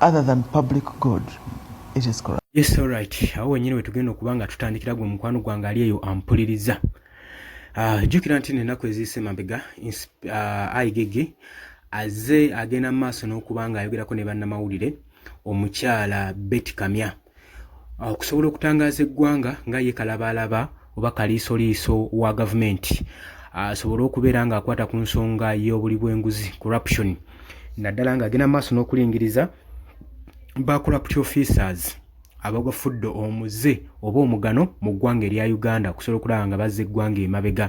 other than public good it is correct yes all right awo wenyini wetugenda okuba nga tutandikira gwe mukwano gwange ali eyo ampuliriza ah, jjukira nti nenaku eziise mabega ah, aigege aze agenda mu maaso n'okuba nga ayogerako ne bannamawulire omukyala beti kamya Ah, okusobola okutangaaza eggwanga nga ye kalabaalaba oba kaliisoliiso wa gavumenti ah, asobole okubeera ng'akwata ku nsonga y'obuli bw'enguzi corruption naddala ng'agenda mu maaso n'okulingiriza ba corrupt officers abagafudde omuze oba omugano mu ggwanga erya uganda okusobola okulaba nga bazza eggwanga emabega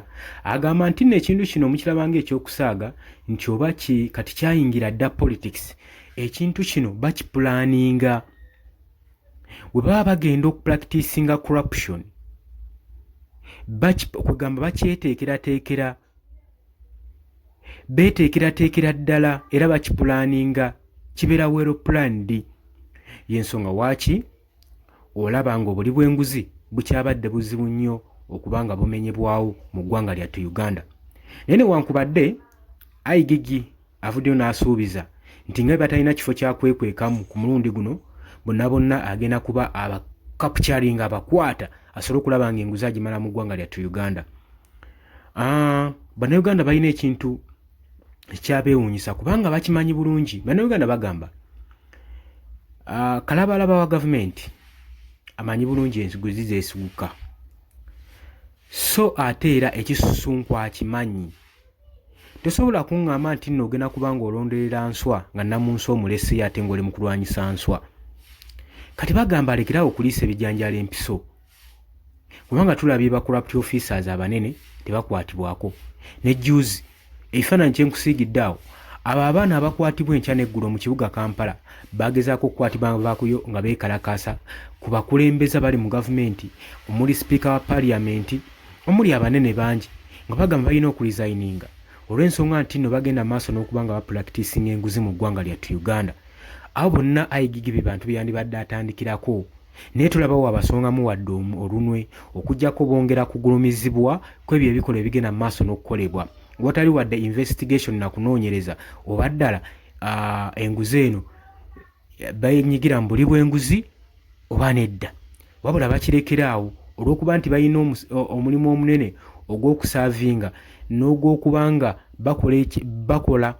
agamba nti nno ekintu kino mukirabanga ekyokusaaga nti oba kati kyayingira dda politics ekintu kino bakipulaninga we baba bagenda okupracticinga corruption kwegamba bakyeteekerateekera beeteekerateekera ddala era bakipulaaninga kibeera wero planned y'ensonga waaki olaba nga obuli bw'enguzi bukyabadde buzibu nnyo okuba nga bumenyebwawo mu ggwanga lyattu uganda naye newankubadde aigigi Avuddeyo n'asuubiza nti nga bwe batalina kifo kya kwekwekamu ku mulundi guno bonna bonna agenda kuba aba capturing abakwata asobole okulaba nga enguzi agimala mu ggwanga lyattu uganda ah, bannayuganda balina ekintu ekyabeewuunyisa kubanga bakimanyi bulungi bannayuganda bagamba ah, kalabalaba wa gavumenti amanyi bulungi enguzi zeesiguka so ate era ekisusunku akimanyi Tosobola kungamba nti nno ogenda kuba nga olonderera nswa nga namunsi omuleseyo ate ngaoli mu kulwanyisa nswa kati bagamba alekerawo okuliisa ebijanjalo empiso kubanga tulabye ba corrupt officers abanene tebakwatibwako ne juzi ekifaananyi kyenkusiigidde awo abo abaana abakwatibwa enkya neggulo mu kibuga kampala bagezaako okukwatibwa bakuyo nga beekalakaasa ku bakulembeza bali mu gavumenti omuli sipiika wa paliyamenti omuli abanene bangi nga bagamba balina okulizayininga olw'ensonga nti nno bagenda maaso n'okuba nga bapulakitisinga enguzi mu ggwanga lyattu Uganda. Abo bonna IGG be bantu be yandibadde atandikirako naye tolaba waabasongamu wadde olunwe okuggyako bongera kugulumizibwa kw'ebyo ebikolwa ebigenda mu maaso n'okukolebwa watali wadde investigation na kunoonyereza oba ddala enguzi eno benyigira mu buli bwenguzi oba nedda wabula bakirekera awo olw'okuba nti balina omulimu omunene ogw'okusaavinga n'ogw'okuba nga bakola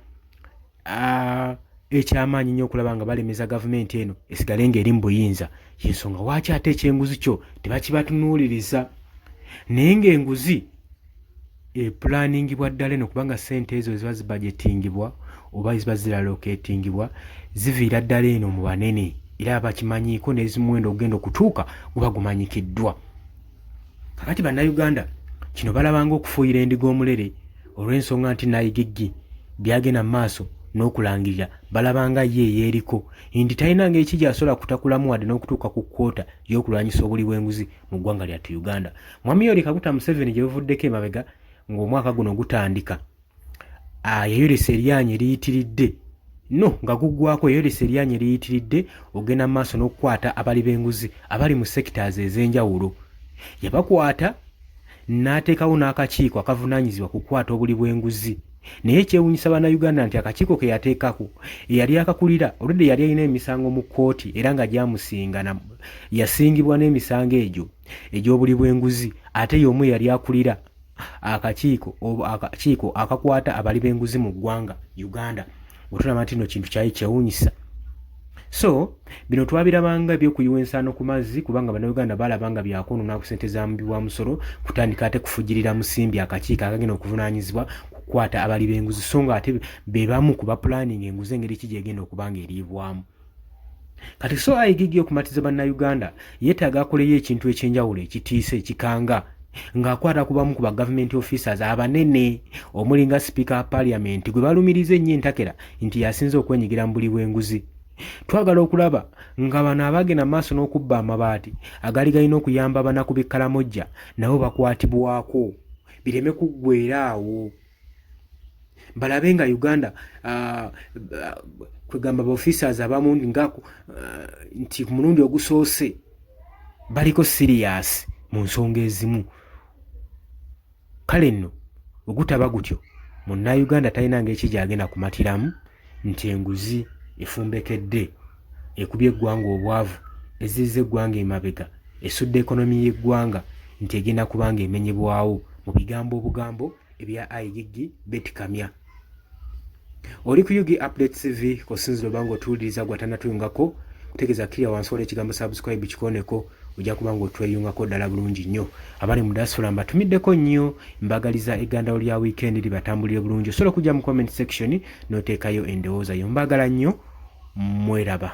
ekyamaanyi nnyo okulaba nga balemeza gavumenti eno esigale ng'eri mu buyinza yensonga waaki ate ekyenguzi kyo tebakibatunuuliriza naye ng'enguzi epulaaningibwa ddala eno kubanga ssente ezo ziba zibajetingibwa oba ziba ziraloketingibwa ziviira ddala eno mu banene era bakimanyiiko n'ezimuwendo ogenda okutuuka guba gumanyikiddwa kakati bannayuganda kino balabanga okufuuyira endiga omulere olw'ensonga nti nayigiggi byagenda mu maaso n'okulangirira balabanga ye eyeeriko nti talinanga eki gyasobola kutakulamu wadde n'okutuuka ku kwota y'okulwanyisa obuli bw'enguzi mu ggwanga lyattu uganda mwami yoweri kaguta museveni gye buvuddeko emabega ng'omwaka guno gutandika ah, yayolesa eryanyi eriyitiridde no nga guggwako yayolesa eryanyi eriyitiridde ogenda mu maaso n'okukwata abali b'enguzi abali mu sectors ez'enjawulo yabakwata n'ateekawo n'akakiiko akavunaanyizibwa ku kukwata obuli bw'enguzi naye ekyewunyisa bannayuganda nti akakiiko ke yateekako eyali akakulira oludde yali alina emisango mu kkooti era nga gyamusinga yasingibwa n'emisango egyo egy'obuli bw'enguzi ate y'omu eyali akulira akakiiko akakiiko akakwata abali b'enguzi mu ggwanga uganda nga tulaba nti no kintu kyali kyewunyisa so bino twabirabanga ebyokuyiwa ensaano ku mazzi kubanga bannayuganda balaba nga byakwonona ku sente za mubi wa musolo kutandika ate kufugirira musimbi akakiiko akagenda okuvunaanyizibwa kukwata abali b'enguzi so nga ate be bamu ku bapulaninga enguzi engeri ki gyegenda okuba nga eriibwamu kati so aigigi okumatiza bannayuganda yeetaaga akoleyo ekintu ekyenjawulo ekitiisa ekikanga ng'akwata ku bamu ku ba government officers abanene omuli nga sipiika wa parliament gwe balumiriza ennyo entakera nti yasinze okwenyigira mu buli bw'enguzi twagala okulaba nga bano abagenda maaso n'okubba amabaati agaali galina okuyamba abanaku b'ekkalamojja nabo bakwatibwako bireme kuggwera awo balabe nga uganda uh, uh, kwegamba ba officers abamu nga uh, nti ku mulundi ogusoose baliko siriyasi mu nsonga ezimu kale nno ogutaba gutyo munnauganda talina ngaeki gyagenda kumatiramu nti enguzi efumbekedde ekubye eggwanga obwavu ezizza eggwanga emabega esudde ekonomi y'eggwanga nti egenda kubanga emenyebwawo mu bigambo obugambo ebya igg beti kamya oli ku ug update tv kosinzira oba nga otuwuliriza gwatanatuyungako kutegeeza kiriya wansi wala ekigambo subscribe kikoneko ojja kuba nga otweyungako ddala bulungi nnyo abali mu dasula mbatumiddeko nnyo mbagaliza egandawo lya wiikendi libatambulire bulungi osobola okujja mu comment section n'oteekayo endowooza yo mbagala nnyo mweraba